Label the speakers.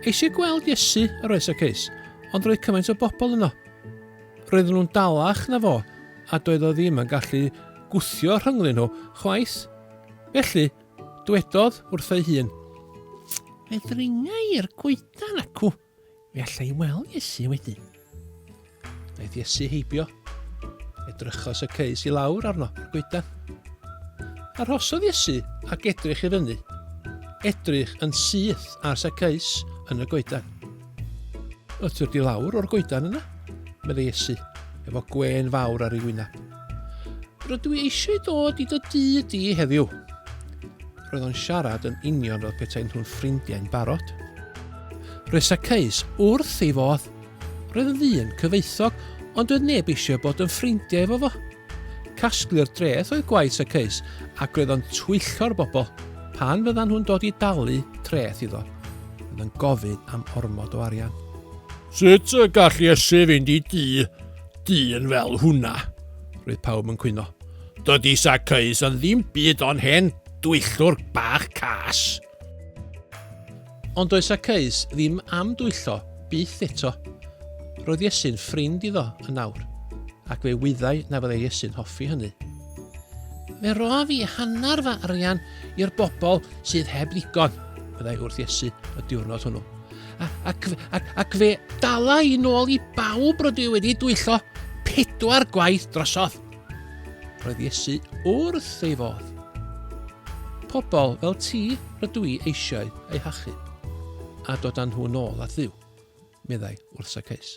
Speaker 1: Eisiau gweld Iesu, yr oes y ceis, ond roedd cymaint o bobl yno. Roedden nhw'n dalach na fo, a doedd o ddim yn gallu gwthio rhynglyn nhw chwaith. Felly, dwedodd wrth ei hun, Fe ddringa i'r coedan acw. Fe allai weld Iesu wedyn. Wnaeth Iesu heibio. Edrychos y ceus i lawr arno, goedan. Arhosodd Iesu ac edrych i fyny. Edrych yn syth ar Saceus yn y goedan. Ytwyr di lawr o'r goedan yna, meddai Iesu, efo gwen fawr ar ei wyneb. Rydw i eisiau dod i dy dŷ di heddiw. Roedd o'n siarad yn union fel petaen nhw'n ffrindiau'n barod. Rhes a ceis wrth ei fodd. Roedd yn ddyn cyfoethog, ond oedd neb eisiau bod yn ffrindiau efo fo. Casglu'r dreth oedd gwaith a ceis, ac roedd o'n twyllgo'r bobl pan fyddan nhw'n dod i dalu treth iddo. Roedd yn gofyn am ormod o arian. Sut y gall Iesu fynd i dŷ Dyn fel hwnna! Roedd pawb yn cwyno. Dydy Zacchaeus yn ddim byd ond hen dwyllwr bach cas. Ond doedd Zacchaeus ddim am dwyllo, byth eto. Roedd Iesu'n ffrind iddo yn awr, ac fe wyddai na fyddai Iesu'n hoffi hynny. Fe rof i hanner fy arian i'r bobl sydd heb ddigon, meddai wrth Iesu y diwrnod hwnnw. Ac, ac, ac fe dala i nôl i bawb rydw i wedi dwyllo pedwar gwaith drosodd. Roedd Iesu wrth ei fodd. Pobl fel ti rydw i eisiau eu hachu a dod â nhw nôl at ddiw, meddai wrth Saceus.